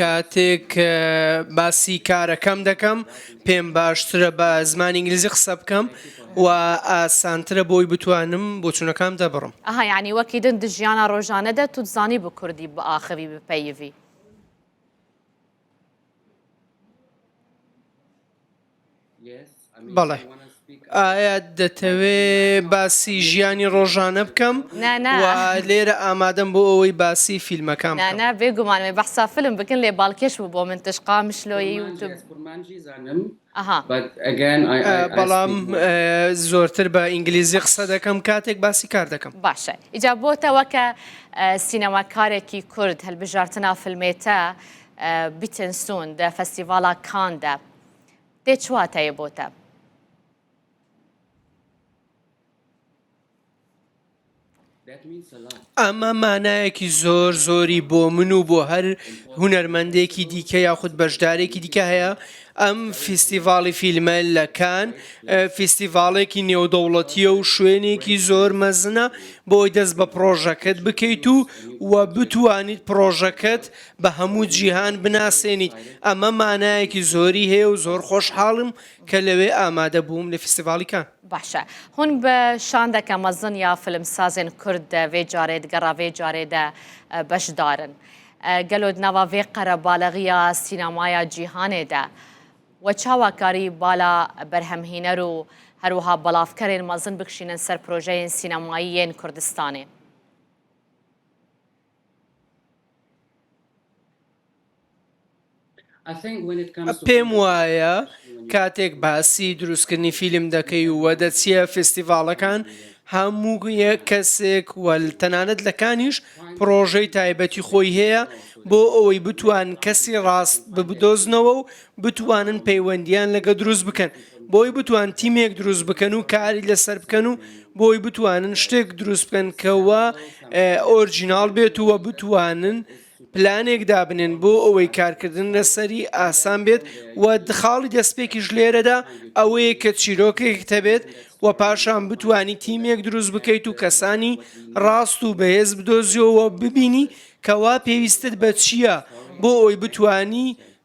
کاتێک باسی کارەکەم دەکەم پێم باشترە بە زمانی ئینگلیزی قسە بکەم و ئاسانترە بۆی بتوانم بۆچونەکەم دەبڕم ئەهیانی وەکی دن دژیانە ڕۆژانەدە توزانی بۆ کوردی بە ئاخەوی بپەیوی بەڵێ ئایا دەتەوێ باسی ژیانی ڕۆژانە بکەم لێرە ئامادەم بۆ ئەوەی باسی فیلمەکان نانا بێگومانێ بەسا فلم بکن لێ باڵکێش بوو بۆ من تشقا مشلۆی بەڵام زۆرتر بە ئینگلیزی قسە دەکەم کاتێک باسی کار دەکەم باشە ئیجا بۆتەوە کە سینەماکارێکی کورد هەلبژارتنا فلمێتە بیتنسون دە فەستیڤاڵا کاندا دێ چ واتایە بۆتە؟ ئەمە مانایەکی زۆر زۆری بۆ من و بۆ هەر هونەرمەندێکی دیکە یاخود بەشدارێکی دیکە هەیە ئەم فیستیڤاڵی فیلمە لەکان فیستیڤاڵێکی نێودەوڵەتیە و شوێنێکی زۆر مەزنە بۆی دەست بە پرۆژەکەت بکەیت و و بتوانیت پرۆژەکەت بە هەموو جیهان بناسێنیت، ئەمە مانایەکی زۆری هەیە و زۆر خۆشحاڵم کە لەوێ ئامادە بووم لە فیستیڤاڵی کان. باشە هون ب شاندەکە مەزن یا فلمسازێن کورد دە ڤێ جارێد گەڕا ڤێ جارێ دە بەشدارن؟ گەلۆد ناوا ڤێ قەرەباڵغییە سینەمایا جیهانێ دە وە چاواکاری بالا بەرهەمهینەر و هەروەها بەڵاڤکەرێن مەزن بکشینن سەر پرۆژەێن سینەماییێن کوردستانێ؟ پێم وایە کاتێک باسی دروستکردنی فیلم دەکەی و دەچیە فستیڤاڵەکان هەموو کەسێک وەل تەنانەت لەکانیش پرۆژەی تایبەتی خۆی هەیە بۆ ئەوەی بتوان کەسی ڕاست ببدۆزنەوە و بتوانن پەیوەندیان لەگە دروست بکەن بۆی بتوان تیمێک دروست بکەن و کاری لەسەر بکەن و بۆی بتوانن شتێک دروست بکەن کەەوە ئۆرجیناڵ بێت ووە بتوانن پلانێک دابنێن بۆ ئەوەی کارکردن لەسەری ئاسان بێت و دخاڵی دەستپێکیش لێرەدا ئەوەیە کە چیرۆکێک تەبێت و پاشان بتانی تیمێک دروست بکەیت و کەسانی ڕاست و بەهێز بدۆزیەوە ببینی کەوا پێویستت بە چییە بۆ ئەوی بتانی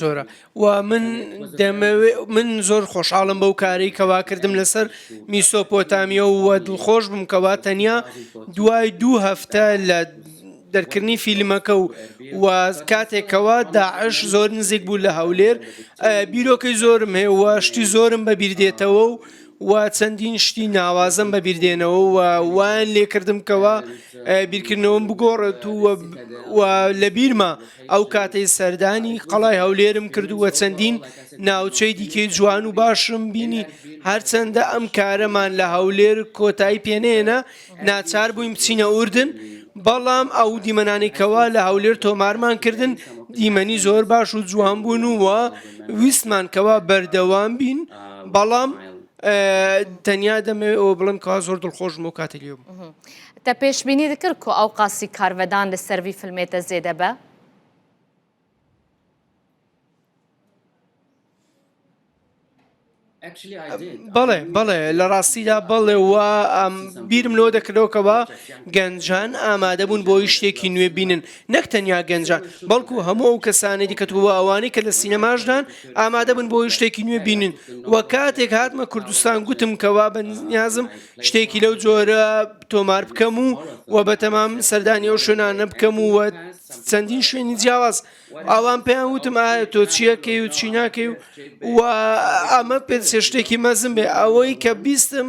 زۆرە و من دەمەوێ من زۆر خۆشحاڵم بەو کارەی کەوا کردم لەسەر میسۆپۆتامیە و دڵخۆش بم کەوا تەنیا دوای دوو هەفتە لە دەرکردنی فیلمەکە و و کاتێکەوە داعش زۆر نزیک بوو لە هەولێر بیرۆکەی زۆرم هەیە وە شتی زۆرم بەبیردێتەوە و و چەندین شتی ناوازەم بە بیردێنەوە و وایان لێکردم کەەوە بیرکردنەوەم بگۆڕێت و لە بیرمە ئەو کاتەی سەردانی قەڵای هەولێرم کردووە چەندین ناوچەی دیکەی جوان و باشم بینی هەرچەندە ئەم کارەمان لە هەولێر کۆتایی پێنێنە ناچار بووین بچینە ئوردن، بەڵام ئەو دیمەنانەی کەوا لە هەولێر تۆمارمان کردن دیمەنی زۆر باش و جوان بوون و ویستمان کەوا بەردەوام بین بەڵام تەنیا دەمەوێت ئەو بڵم کەوا زۆر دڵخۆش بۆ کاتە لێ بوو. تە پێشبینی دکرد کو ئەو قاسی کارڤدان لە سەروی فلمێتە زێدە بە؟ بەڵێ بەڵێ لە ڕاستیدا بەڵێ وە بیرم لۆ دەکرەوەکەوە گەنجان ئامادە بوون بۆی شتێکی نوێ بینن نەک تەنیا گەنجان بەڵکو هەموو ئەو کەسانی دیکەتووە ئەوانی کە لە سینەماشدان ئامادە بن بۆی شتێکی نوێ بینن وە کاتێک هاتمە کوردستان گوتم کەوا بەنیازم شتێکی لەو جۆرە تۆمار بکەم و و بەتەمام سەردانی ئەو شوێنانە بکەم و چەندین شوێنی جیاواز ئاوان پێیان وتم ئایا تۆ چیەکەی و چی ناکەی و و ئەمە پێ شتێکی مەزم بێ ئەوەی کە بیستم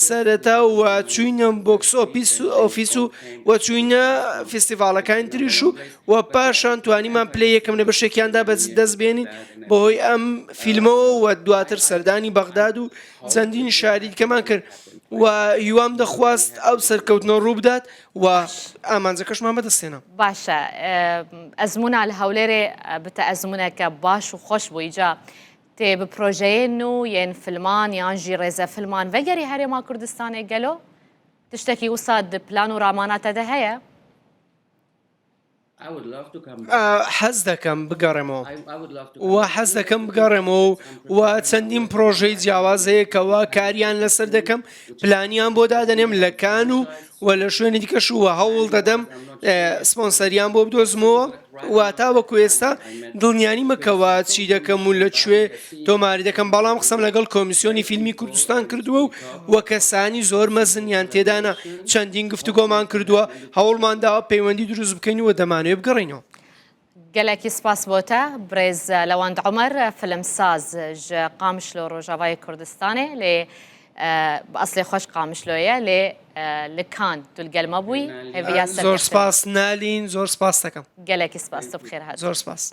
سەرەتا و چوینە بۆکس ئۆپیس و ئۆفیس و و چوینە فستیڤالەکانی تریش و و پاشان توانیمان پلی یەکەم لە بەشێکیاندا بەس دەست بێنین بەهۆی ئەم فیلمەوە و دواتر سەردانی بەغداد و چەندین شاری دیکەمان کرد و هیوام دەخواست ئەو سەرکەوتنەوە ڕوو بدات و ئامانجەکەشمان بەدەستێنە باشە ئەزمونە لە هەولێرێ بتە ئەزمونەکە باش و خۆش بووی جا تێ بپرۆژەیە و یەن فلمان یان ژی ڕێزە فلمان وەگەری هەرێما کوردستانێ گەلۆ تشتێکی وساد پلان و ڕاماناتەدە هەیە و حەز دەکەم بگەڕێمەوە و حەز دەکەم بگەڕێمەوە و چەندین پرۆژەی جیاواز هەیە کەوا کاریان لەسەر دەکەم پلانیان بۆ دادەنێم لە کان و و لە شوێنی دیکەش وە هەوڵ دەدەم سپۆنسەریان بۆ بدۆزمەوە واتا وەکو ئێستا دڵنیانی مەکەوە چی دەکەم و لە کوێ تۆماری دەکەم بەڵام قسەم لەگەڵ کۆمیسیۆنی فیلمی کوردستان کردووە و وە کەسانی زۆر مەزنیان تێدانە چەندین گفتوگۆمان کردووە هەوڵمان داوە پەیوەندی دروست بکەین و دەمانەوێت بگەڕێینەوە. گەلەکی سپاس بۆتە برێز لەواند عمر فلم ساز ژە قامشلۆ ڕۆژاوای کوردستانێ لێ ئەسلێ خۆش قامشلۆیە لێ لکان دولگەلمە بووی زۆر سپاس نالین زۆر سپاس دەکەم گەلەکی سپاس بخێر زۆر سپاس.